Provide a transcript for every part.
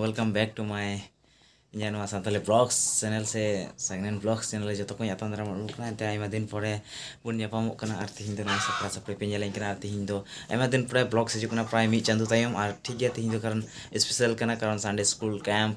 welcome back to my ᱤᱧᱟᱹᱜ ᱱᱚᱣᱟ Santali blogs channel ᱥᱮ ᱥᱟᱜᱱᱮᱱ ᱵᱞᱚᱜᱥ ᱪᱮᱱᱮᱞ ᱨᱮ ᱡᱚᱛᱚ ᱠᱚᱧ ᱟᱛᱟᱝ ᱫᱟᱨᱟᱢ ᱟᱹᱜᱩ ᱠᱟᱱᱟ ᱮᱱᱛᱮ ᱟᱭᱢᱟ ᱫᱤᱱ ᱯᱚᱨᱮ ᱵᱚᱱ ᱧᱟᱯᱟᱢᱚᱜ ᱠᱟᱱᱟ ᱟᱨ ᱛᱤᱦᱤᱧ ᱫᱚ ᱱᱚᱣᱟ ᱥᱟᱯᱲᱟ ᱥᱟᱯᱲᱤ ᱯᱮ ᱧᱮᱞᱮᱧ ᱠᱟᱱᱟ ᱟᱨ ᱛᱤᱦᱤᱧ ᱫᱚ ᱟᱭᱢᱟ ᱫᱤᱱ ᱯᱚᱨᱮ ᱵᱞᱚᱜᱥ ᱦᱤᱡᱩᱜ ᱠᱟᱱᱟ ᱯᱨᱟᱭ ᱢᱤᱫ ᱪᱟᱸᱫᱚ ᱛᱟᱭᱚᱢ ᱟᱨ ᱴᱷᱤᱠ ᱜᱮᱭᱟ ᱛᱤᱦᱤᱧ ᱫᱚ ᱠᱟᱨᱚᱱ ᱥᱯᱮᱥᱟᱞ ᱠᱟᱱᱟ ᱠᱟᱨᱚᱱ ᱥᱟᱱᱰᱮ ᱥᱠᱩᱞ ᱠᱮᱢᱯ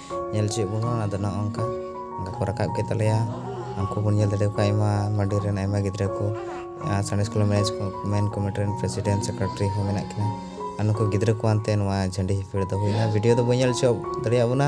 ᱧᱮᱞ ᱦᱚᱪᱚᱭᱮᱫ ᱵᱚᱱᱟ ᱚᱱᱟ ᱫᱚ ᱱᱚᱜᱼᱚ ᱱᱚᱝᱠᱟ ᱚᱱᱠᱟ ᱠᱚ ᱨᱟᱠᱟᱵ ᱠᱮᱫ ᱛᱟᱞᱮᱭᱟ ᱩᱱᱠᱩ ᱵᱚᱱ ᱧᱮᱞ ᱫᱟᱲᱮ ᱠᱚᱣᱟ ᱟᱭᱢᱟ ᱢᱟᱹᱰᱤ ᱨᱮᱱ ᱟᱭᱢᱟ ᱜᱤᱫᱽᱨᱟᱹ ᱠᱚ ᱥᱟᱬᱮᱥ ᱠᱚᱞᱮᱡᱽ ᱢᱮᱱᱮᱡᱽ ᱢᱮᱱ ᱠᱚᱢᱤᱴᱤ ᱨᱮᱱ ᱯᱨᱮᱥᱤᱰᱮᱱᱴ ᱥᱮᱠᱨᱮᱴᱟᱨᱤ ᱦᱚᱸ ᱢᱮᱱᱟᱜ ᱠᱤᱱᱟ ᱟᱨ ᱱᱩᱠᱩ ᱜᱤᱫᱽᱨᱟᱹ ᱠᱚ ᱟᱱᱛᱮ ᱱᱚᱣᱟ ᱡᱷᱟᱹᱱᱰᱤ ᱦᱤᱯᱤᱲ ᱫᱚ ᱦᱩᱭᱱᱟ ᱵᱷᱤᱰᱤᱭᱳ ᱫᱚ ᱵᱟᱹᱧ ᱧᱮᱞ ᱦᱚᱪᱚ ᱫᱟᱲᱮᱭᱟᱜ ᱵᱚᱱᱟ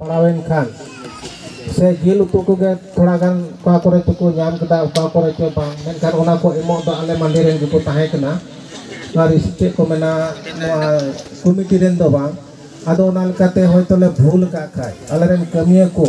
ᱯᱟᱲᱟᱣᱮᱱ ᱠᱷᱟᱱ ᱥᱮ ᱡᱤᱞ ᱩᱛᱩ ᱠᱚᱜᱮ ᱛᱷᱚᱲᱟ ᱜᱟᱱ ᱚᱠᱟ ᱠᱚᱨᱮ ᱪᱚᱠᱚ ᱧᱟᱢ ᱠᱮᱫᱟ ᱚᱠᱟ ᱠᱚᱨᱮ ᱪᱚ ᱵᱟᱝ ᱢᱮᱱᱠᱷᱟᱱ ᱚᱱᱟ ᱠᱚ ᱮᱢᱚᱜ ᱫᱚ ᱟᱞᱮ ᱢᱟᱹᱞᱤ ᱨᱮᱱ ᱜᱮᱠᱚ ᱛᱟᱦᱮᱸ ᱠᱟᱱᱟ ᱟᱨ ᱪᱮᱫ ᱠᱚ ᱢᱮᱱᱟ ᱱᱚᱣᱟ ᱠᱚᱢᱤᱴᱤ ᱨᱮᱱ ᱫᱚ ᱵᱟᱝ ᱟᱫᱚ ᱚᱱᱟ ᱞᱮᱠᱟᱛᱮ ᱦᱚᱭᱛᱚ ᱞᱮ ᱵᱷᱩᱞ ᱟᱠᱟᱫ ᱠᱷᱟᱱ ᱟᱞᱮ ᱨᱮᱱ ᱠᱟᱹᱢᱤᱭᱟᱹ ᱠᱚ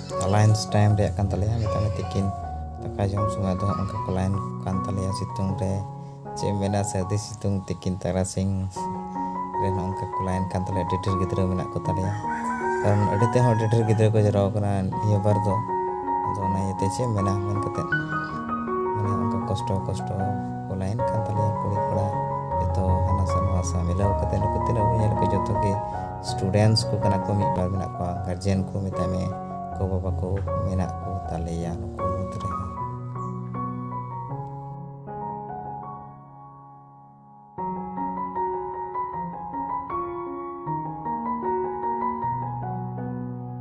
ᱞᱟᱭᱤᱱᱥ ᱴᱟᱭᱤᱢ ᱨᱮᱭᱟᱜ ᱠᱟᱱ ᱛᱟᱞᱮᱭᱟ ᱢᱮᱛᱟᱜ ᱢᱮ ᱛᱤᱠᱤᱱ ᱫᱟᱠᱟ ᱡᱚᱢ ᱥᱚᱢᱚᱭ ᱫᱚ ᱚᱱᱠᱟ ᱠᱚ ᱞᱟᱭᱤᱱ ᱠᱟᱱ ᱛᱟᱞᱮᱭᱟ ᱥᱤᱛᱩᱝ ᱨᱮ ᱪᱮᱫ ᱮᱢ ᱢᱮᱱᱟ ᱥᱟᱹᱨᱫᱤ ᱥᱤᱛᱩᱝ ᱛᱤᱠᱤᱱ ᱛᱟᱨᱟᱥᱤᱧ ᱨᱮ ᱚᱱᱠᱟ ᱠᱚ ᱞᱟᱭᱤᱱ ᱠᱟᱱ ᱛᱟᱞᱮᱭᱟ ᱟᱹᱰᱤ ᱰᱷᱮᱨ ᱜᱤᱫᱽᱨᱟᱹ ᱢᱮᱱᱟᱜ ᱠᱚ ᱛᱟᱞᱮᱭᱟ ᱠᱟᱨᱚᱱ ᱟᱹᱰᱤ ᱛᱮᱦᱚᱸ ᱟᱹᱰᱤ ᱰᱷᱮᱨ ᱜᱤᱫᱽᱨᱟᱹ ᱠᱚ ᱡᱟᱣᱨᱟ ᱟᱠᱟᱱᱟ ᱱᱤᱭᱟᱹ ᱵᱟᱨ ᱫᱚ ᱟᱫᱚ ᱚᱱᱟ ᱤᱭᱟᱹᱛᱮ ᱪᱮᱫ ᱮᱢ ᱢᱮᱱᱟ ᱢᱮᱱ ᱠᱟᱛᱮᱫ ᱢᱟᱱᱮ ᱚᱱᱠᱟ ᱠᱚᱥᱴᱚ ᱠᱚᱥᱴᱚ ᱠᱚ ᱞᱟᱭᱤᱱ ᱠᱟᱱ ᱛᱟᱞᱮᱭᱟ ᱠᱩᱲᱤ ᱠᱚᱲᱟ ᱡᱚᱛᱚ ᱦᱟᱱᱟ ᱥᱟ ᱱᱚᱣᱟ ᱥᱟ ᱢᱤᱞᱟᱹᱣ ᱠᱟᱛᱮᱫ ᱱᱩᱠᱩ ᱛᱤᱱᱟᱹᱜ ᱵᱚᱱ ᱧᱮᱞ ᱠᱚᱣᱟ ᱡᱚᱛᱚ ᱜᱮ ᱥᱴᱩᱰᱮᱱᱴᱥ ᱠᱚ ᱠᱟᱱᱟ ᱠᱚ ᱢᱤᱫ ᱵᱟᱨ ᱢᱮᱱᱟᱜ ᱠᱚᱣᱟ ᱜᱟᱨᱡᱮᱱ ᱠᱚ ᱢᱮᱛᱟᱭ ᱢᱮ ᱜᱚ ᱵᱟᱵᱟ ᱠᱚ ᱢᱮᱱᱟᱜ ᱠᱚ ᱛᱟᱞᱮᱭᱟ ᱱᱩᱠᱩ ᱢᱩᱫᱽ ᱨᱮ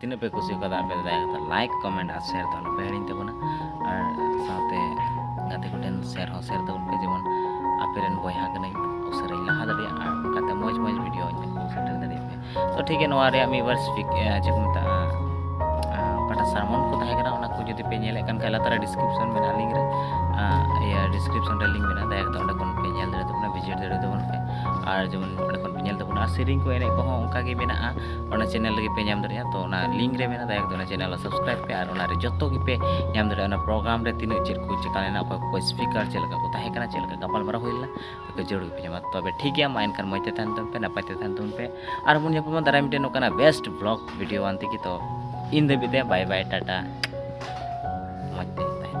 ᱛᱤᱱᱟᱹᱜ ᱯᱮ ᱠᱩᱥᱤ ᱠᱟᱫᱟ ᱟᱯᱮ ᱫᱟᱭᱟ ᱠᱟᱛᱮ ᱞᱟᱭᱤᱠ ᱠᱚᱢᱮᱱᱴ ᱟᱨ ᱥᱮᱭᱟᱨ ᱫᱚ ᱟᱞᱚᱯᱮ ᱦᱤᱲᱤᱧ ᱛᱟᱵᱚᱱᱟ ᱟᱨ ᱥᱟᱶᱛᱮ ᱜᱟᱛᱮ ᱠᱚᱴᱷᱮᱱ ᱥᱮᱭᱟᱨ ᱦᱚᱸ ᱥᱮᱭᱟᱨ ᱛᱟᱵᱚᱱ ᱯᱮ ᱡᱮᱢᱚᱱ ᱟᱯᱮ ᱨᱮᱱ ᱵᱚᱭᱦᱟ ᱠᱟᱹᱱᱟᱹᱧ ᱩᱥᱟᱹᱨᱟᱧ ᱞᱟᱦᱟ ᱫᱟᱲᱮᱭᱟᱜᱼᱟ ᱟᱨ ᱚᱱᱠᱟᱛᱮ ᱢᱚᱡᱽ ᱢᱚᱡᱽ ᱵᱷᱤᱰᱤᱭᱳ ᱤᱧ ᱟᱹᱜᱩ ᱥᱮᱴᱮᱨ ᱫᱟᱲᱮᱭᱟᱜ ᱯᱮ ᱛᱚ ᱴᱷᱤᱠ ᱜᱮᱭᱟ ᱱᱚᱣᱟ ᱨᱮᱭᱟᱜ ᱢᱤᱫ ᱵᱟᱨ ᱥᱯᱤᱠ ᱪᱮᱫ ᱠᱚ ᱢᱮᱛᱟᱜᱼᱟ ᱚᱠᱟᱴᱟᱜ ᱥᱟᱨᱢᱚᱱ ᱠᱚ ᱛᱟᱦᱮᱸ ᱠᱟᱱᱟ ᱚᱱᱟ ᱠᱚ ᱡᱩᱫᱤ ᱯᱮ ᱧᱮᱞᱮᱫ ᱠᱟᱱ ᱠᱷᱟᱡ ᱞᱟᱛᱟᱨ ᱰᱤᱥᱠᱨᱤᱯᱥᱚᱱ ᱢᱮᱱᱟᱜᱼᱟ ᱞᱤᱝᱠ ᱨᱮ ᱤᱭᱟᱹ ᱰᱤᱥᱠᱨᱤᱯᱥᱚᱱ ᱨᱮ ᱞᱤᱝᱠ ᱢᱮᱱᱟᱜᱼᱟ ᱫᱟᱭᱟ ᱠᱟᱛᱮ ᱚᱸᱰᱮ ᱠᱷᱚᱱ ᱯᱮ ᱧᱮᱞ ᱫᱟᱲᱮᱭᱟᱜ ᱛᱟᱵᱚᱱᱟ ᱵᱷᱤᱡᱤᱴ ᱫᱟᱲᱮᱭᱟᱜ ᱛᱟᱵᱚᱱ ᱯᱮ ᱟᱨ ᱡᱮᱢᱚᱱ ᱚᱸᱰᱮ ᱠᱷᱚᱱ ᱯᱮ ᱧᱮᱞ ᱛᱟᱵᱚᱱᱟ ᱥᱮᱨᱮᱧ ᱠᱚ ᱮᱱᱮᱡ ᱠᱚᱦᱚᱸ ᱚᱱᱠᱟᱜᱮ ᱢᱮᱱᱟᱜᱼᱟ ᱚᱱᱟ ᱪᱮᱱᱮᱞ ᱨᱮᱜᱮ ᱯᱮ ᱧᱟᱢ ᱫᱟᱲᱮᱭᱟᱜᱼᱟ ᱛᱚ ᱚᱱᱟ ᱞᱤᱝᱠ ᱨᱮ ᱢᱮᱱᱟᱜᱼᱟ ᱫᱟᱭᱟ ᱠᱟᱛᱮ ᱚᱱᱟ ᱪᱮᱱᱮᱞ ᱥᱟᱵᱥᱠᱨᱟᱭᱤᱵ ᱯᱮ ᱟᱨ ᱚᱱᱟ ᱨᱮ ᱡᱚᱛᱚ ᱜᱮᱯᱮ ᱧᱟᱢ ᱫᱟᱲᱮᱭᱟᱜᱼᱟ ᱚᱱᱟ ᱯᱨᱳᱜᱨᱟᱢ ᱨᱮ ᱛᱤᱱᱟᱹᱜ ᱪᱮᱫ ᱠᱚ ᱪᱮᱠᱟ ᱞᱮᱱᱟ ᱚᱠᱚᱭ ᱠᱚ ᱥᱯᱤᱠᱟᱨ ᱪᱮᱫ ᱞᱮᱠᱟ ᱠᱚ ᱛᱟᱦᱮᱸ ᱠᱟᱱᱟ ᱪᱮᱫ ᱞᱮᱠᱟ ᱜᱟᱯᱟᱞᱢᱟᱨᱟᱣ ᱦᱩᱭ ᱞᱮᱱᱟ ᱛᱚ ᱡᱟᱹᱨᱩᱲ ᱜᱮᱯᱮ ᱧᱟᱢᱟ ᱛᱚᱵᱮ ᱴᱷᱤᱠ ᱜᱮᱭᱟ ᱢᱟ ᱮᱱᱠᱷᱟᱱ ᱢᱚᱡᱽ ᱛᱮ ᱛᱟᱦᱮᱱ ᱛᱟᱵᱚᱱ ᱯᱮ ᱱᱟᱯᱟᱭ ᱛᱮ ᱛᱟᱦᱮᱱ ᱛᱟᱵᱚᱱ ᱯᱮ ᱟᱨ ᱵᱚᱱ ᱧᱟᱯᱟᱢᱟ ᱫᱟᱨᱟᱭ ᱢᱤᱫᱴᱮᱱ ᱱᱚᱝᱠᱟᱱᱟᱜ ᱵᱮᱥᱴ ᱵᱞᱚᱜ ᱵᱷᱤᱰᱤᱭᱳ ᱟᱱ ᱛᱮᱜᱮ ᱛᱚ ᱤᱧ ᱫᱷᱟᱹᱵᱤᱡ ᱛᱮ ᱵᱟᱭ ᱵᱟᱭ ᱴᱟᱴᱟ ᱢᱚᱡᱽ ᱛᱮ ᱛᱟᱦᱮᱱ